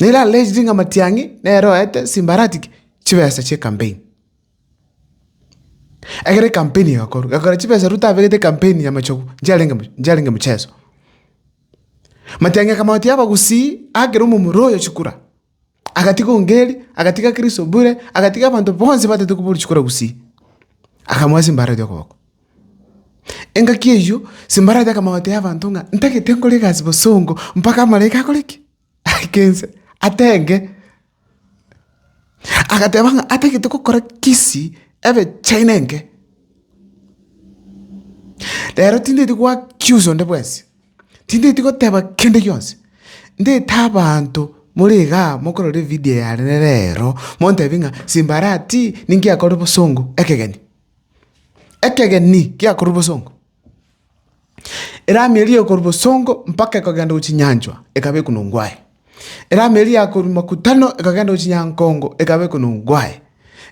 Nere ararechire ng'a matiang'i nere oete simbarati ki? Chibesa chia ekampeni. Ekero ekampeni egakorwa, gakora chibesa Ruto abegete ekampeni ya machogu, nchiarenge moch- nchiarenge mocheso. Matiang'i akamanya ati abagusii, akera omomura oyo chikura. Agatiga Ongeri, agatiga Krisobure, agatiga abanto bonsi bataete koba orisiku rwa gusii, akamoa ase embarati y'okoboko. Engaki eyio Sambarati akamotebia abanto ng'a ntagete nkore egasi bosongo mpaka amalaika akore ki? Aike inse, atenge. Agateba ng'a atagete gokora kisii ebe china enke. Rero tindeti goaccuse onde bwensi. Tindeti goteba kende gionsi, ndete abanto more igaa mokorora evidio yane rero, montebi ng'a simbarati ninki akorire bosongo ekegeni. Ekegeni giakorire bosongo, erami eria ekorwa bosongo mpaka ekogenda gochia nyanchwa ekaba ekunongwa aye, erami eria yakorwa makutano ekagenda gochia nyankongo ekaba ekunongwa aye,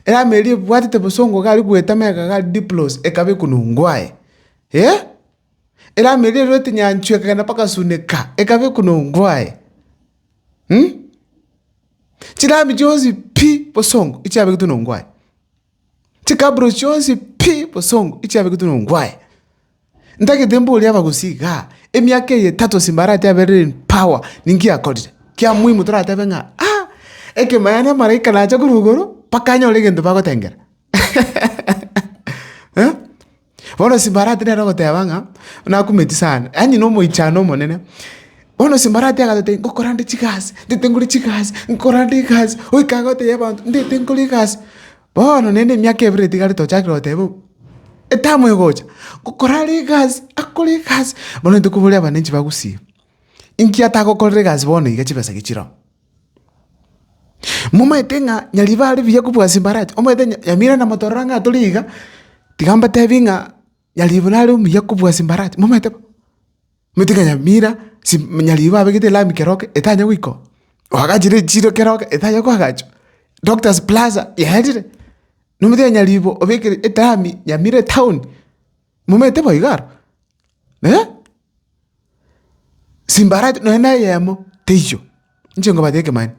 erami eria ebwatete bosongo iga aria bwetama iga iga Diplos ekaba ekunongwa aye. Eramu eria erwete nyanchwa ekagenda mpaka Asuneka, ekaba ekunongwa aye. Chiramu chionsi pi bosongo echiabegetwe nongwa aye, chikaburo chionsi pi bosongo echiabegetwe nongwa aye. Ntagete mborie abagusii igaa, emiaka eye etato ase mbarati aberire in power, ninki akorire? Kia muhimu toratebe ng'a ah, ekemo yaani amaraika nacha korwa igoro mpaka anyore egento bagotengera. Bono Sambalati nere ogoteba ng'a nakumeti sana, yaani na omoichano omonene. Bono Sambalati agatotebia ngokora nde chigasi, ndete nkore chigasi, nkora nde egasi, oika iga otebia abanto ndete nkore egasi. Bono naende emiaka ebere nigo tiga tochakire goteba o etamu egocha, ngokora are egasi, akore egasi. Bono intwe koboria abananchi bagusie, inki atagokorera egasi bono iga chibesa gechire oo. Momaete ng'a nyariba are buya kobua ase embarachi, omaete ng'a yamira na motororo ang'e atore iga, tiga mbatebi ng'a nyariba nare omuya kobua ase embarachi, momaete bo? Omaete ng'a nyamira si nyariba abegete elami keroke etanya goikoa, oagachire echiro keroke etanya koagachwa, Doctors Plaza yaerire, nomanyete ng'a nyariba obekire elami yamira etown. Momanyete bo iga aro? Ee, simbarachi nonya neyemo teiyo, inche nkobate ekemani.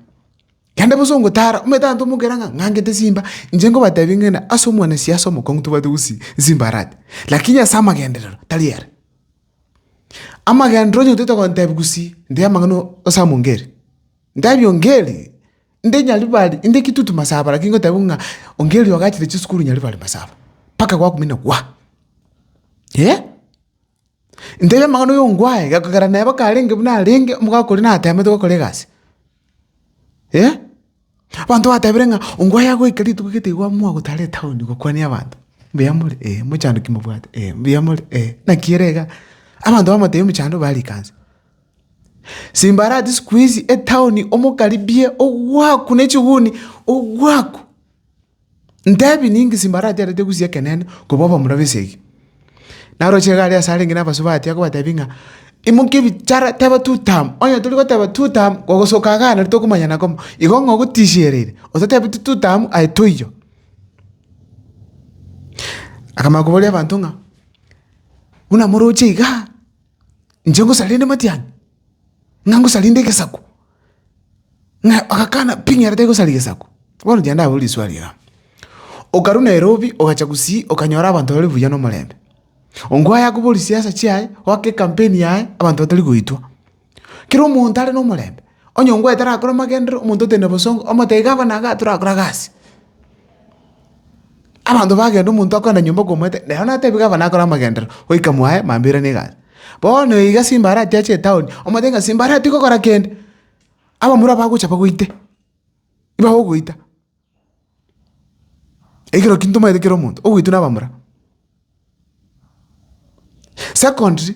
Kende bosongo tara, omanyete abanto mokera ng'a ng'angete simba, inche nkobatebia ng'ende ase omwana siasa omokong'u tobwate gosii nsimbarati, lakini ase amagenderero tari are. Amagenderero onye otaete gontebia gosii, ntebia amang'ana o ase amo ngeri, ntebia ongeri. Inde Nyaribari, inde kitutu masaba naki ngotebiwa ng'a onge erio ogachire chisukuru Nyaribari masaba, mpaka gwakumina gwa. Eh! Ntebia amang'ana oyo ngwaye, gekogera neba karenge buna arenge, omogaka oria natemete gokora egasi. Eh! Abanto batebire ng'a ongwaye agoika rituko gete igo amoa gotara etaoni gokwania abanto, mbuya more? Eh, mochandoki mobwate? Eh, mbuya more? Eh, naki ere iga? Abanto bamotebia mochandoki barikanse. Simbarati sikuisi etaoni omokaribie ogwaku ne chihuni ogwaku. Ntebi ninki simbarati arete gusia ekenene koba obomura bw'esegi? Naroche iga aria ase arenge nabasubati atia kobatebia ng'a imokia ebichara teba two term, onye tori goteba two term ogosoka igaa nari tokomanyana komo. Igo ng'a ogotishiereire otatebeti two term aye toiyo. Akamanya koboria abanto ng'a buna moroche igaa. inche ngosaria rende matiang'i, ng'a ngosaria rende egesaku, ng'a agakana pi ng'a ere tagosari gesaku. Bono inche ndabori riswali igaa, okarwa nairobi ogacha gusii okanyora abanto bare buya na omorembe, ongo aye akobori siasa chiaye, oake ekampeni yaye abanto batari goitwa, kera omonto are na omorembe. Onye ongwaete arakore amagenderero, omonto oteine obosongo, omotebie gakore naye iga torakore agasi. Abanto bagenda omonto akogenda nyomba okomoete, nere natebie gava nakore amagenderero, goika mwaye mambia oirane egasi. Bono oyo iga simba arache ache etaoni, omotebie ng'a simba aratige gokora kende, abamura bagocha bagoite, iba ogoita. Ekero ki ntomanyete kera omonto, ogoitwa na abamura. Secondly.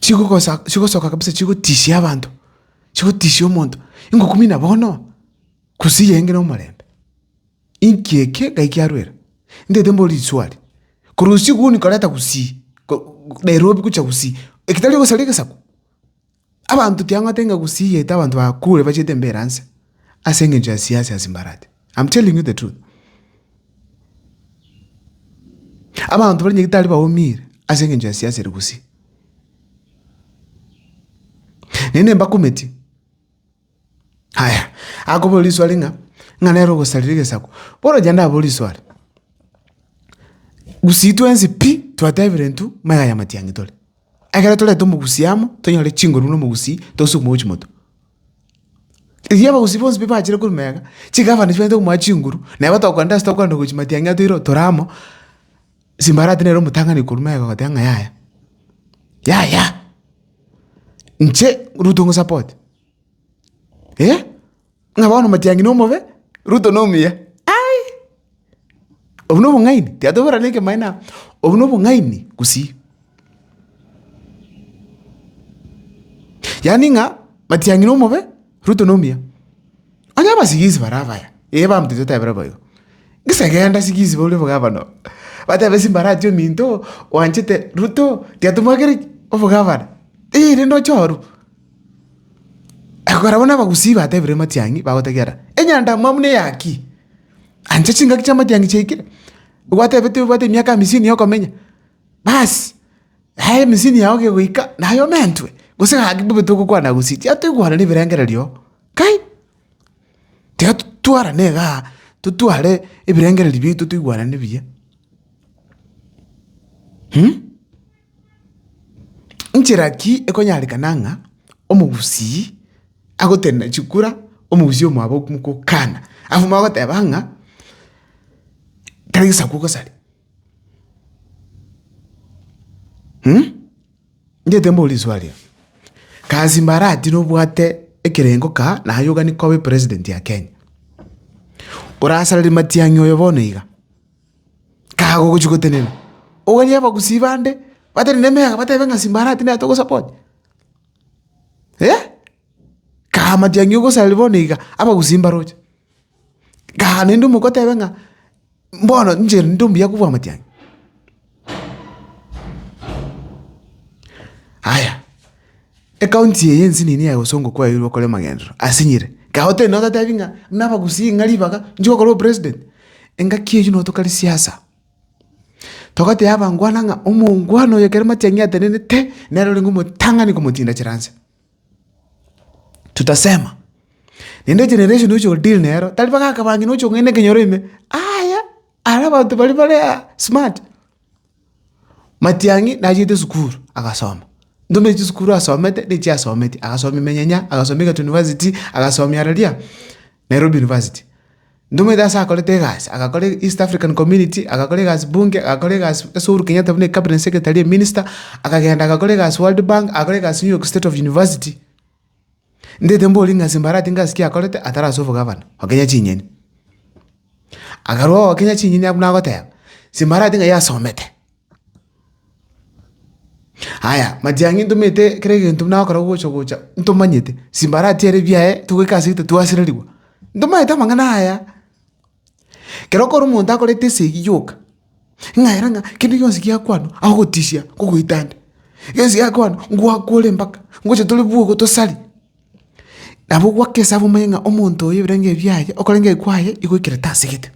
chigogosa chigosoka kabisa chigotishia abanto, chigotishia omonto, ingokumina bono, gose iye ngire omorembe. Inki eke ngai kiarwera? Ntaete mbore risuari, korwa usiku huu nikoreta gusii, ko- Nairobi gocha gusii, eketari ogosara egesaku. Abanto tiang'ata ng'a gosiigete abanto bakure bachete embeera nse ase engencho ya siasa ya simbarati. I'm telling you the truth. Abanto baria nyagitari baumire ase engencho ya siasa ere gusii. Naende mbakometie, Aya, akobora risuari ng'a, ng'a nere ogosarera egesaku. Bono ocha ndaboo risuari, gusii twensi pi, twatebire intwe maiga ya matiang'i tore. Ekero toreta omogusii amo, tonyore chinguru na omogusii, tosukuma gochia motwe. Erio abagusii bonsi pi bachire korwa mega, chigabane chibachete komoa chinguru, na igo tokogenda ase tokogenda gochia matiang'i aa toireo tore amo, Simbarati nere omotang'ani korwa mega goteba ng'a yaya, yaya, inche Ruto ng'osapote. Eh, ng'a bono matiang'i nomobe, Ruto nomuya. Ai! Obwo nobong'aini, tiatoborana ekemaene aa, obwo nobong'aini gusii. Yaani ng'a matiang'i nomobe, Ruto nomuya. Onye abasigisi bare abaya, eh baminto totebera bo igo, gisa genda sigisi boria bo gavana oo, batebe gisa mbarache ominto oo, oanchete Ruto, tiatomwakera ki? obogavana, eh rende oche oruu. Ekekorabwo n'abagusii batebire amatiang'i, bagotegiara, Enyandamwamu neyaki? Ancha chingaki chi'amatiang'i chiaikire, gwatebete obwate emiaka hamisini yokomenya, basi, aya hamisini yao kegoika naye omentwe, gose gaki bobe togokwana gusii. Tiga toigwanane ebirengererio oo, kai! Tiga totwarane igaa, totware ebirengererio biaito toigwanane buya. Nchera ki ekonyarekana ng'a omogusii agotenena chikura omogusii omwabo mokokana? Abwo bagoteba ng'a tari gesaku ogosare ngete mbore riswali ero. Kasi mbarati nobwate ekerengo kaa naye ogani koba president ya Kenya, orasarere matiang'i oyo bono iga. kago ogochia gotenena, oganie abagusii bande batenene emeyaga batebe ng'a Simba arati naye togosupport, eh! Kago amatiang'i ogosaria bono iga, abagusii mbaroche, kago naende omokotebe ng'a mbono inche rende ombuya kobua amatiang'i. Aya, Ekaunti eye ense niini yaye gose ongo kwaeirwe okore amagenderero asinyire. Kae otebi naye otatebi ng'a buna abagusii ng'a ribaga nchiko korwa opresident. Engaki eyio notoka risiasa. Togateba abangwana ng'a omongwana oyo ekero matiang'i atenenete nere orenge omotang'ani komotinda chire anse. Tutasema. Naende egeneration oche odeal nero tari bagakabange noche kong'ende ekenyoro ime. Aya! Ara abanto baria bare aa smart. Matiang'i nachiete sukuru agasoma, ntomanya chisukuru asomete na echio asometi, agasomia emenyenya, agasomia Egerton University, agasomia aroria Nairobi University. Ntomanyete ase akorete egasi, agakora East African Community, agakora egasi Bunge, agakora egasi ase Uhuru Kenyatta buna Cabinet Secretary, Minister, akagenda agakora egasi World Bank, agakora egasi New York State of University. Ndete mborie ng'a Simbarati ngasi ki akorete atari ase obogavana ogokenya chinyeni? Akarua ogokenya chinyeni abwo nagoteba, Simbarati ng'ai asomete? Aya, matiang'i ntomete kera egento buna agokora ogocha gocha ntomanyete, Simbarati ere ebiaye togoika ase egete twasererigwa. Ntomanyete amang'ana aya. Ekero okora omonto akorete esegi yoka, ng'aera ng'a kende gionsi gia kwano agotisia ngogoita nde, gionsi gia kwano ngwakore mpaka ngocha tore bwogo tosari. Nabo ogwake esabu omanye ng'a omonto oyo ebirengo ebi biaye okorenge kwaye igoikire tasegete.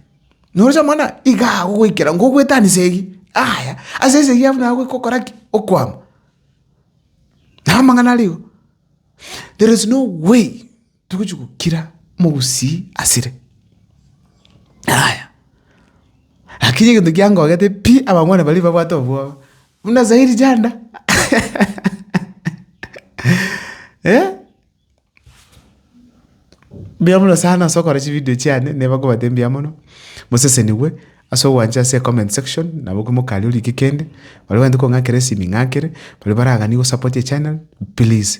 Noroche omwana iga agogoikera ngogoetani segi, yaya ase esegi abwo naye gokora ki? Okwama. Nabo amang'ana arigo, there is no way Togochia gokira mogusii asire. Yaya, lakini egento kiangogete pi, abangwana baria babwate obwoba, buna zairi janda mbuya mono sana ase okora chividio chiane, neba nkobate mbuya mono, mosesenigwe ase ogwancha ase ecomment section, nabo komokani orike kende, baria bagento kong'akera esimi ng'akere, baria baragani gosapoti echannel, pliz.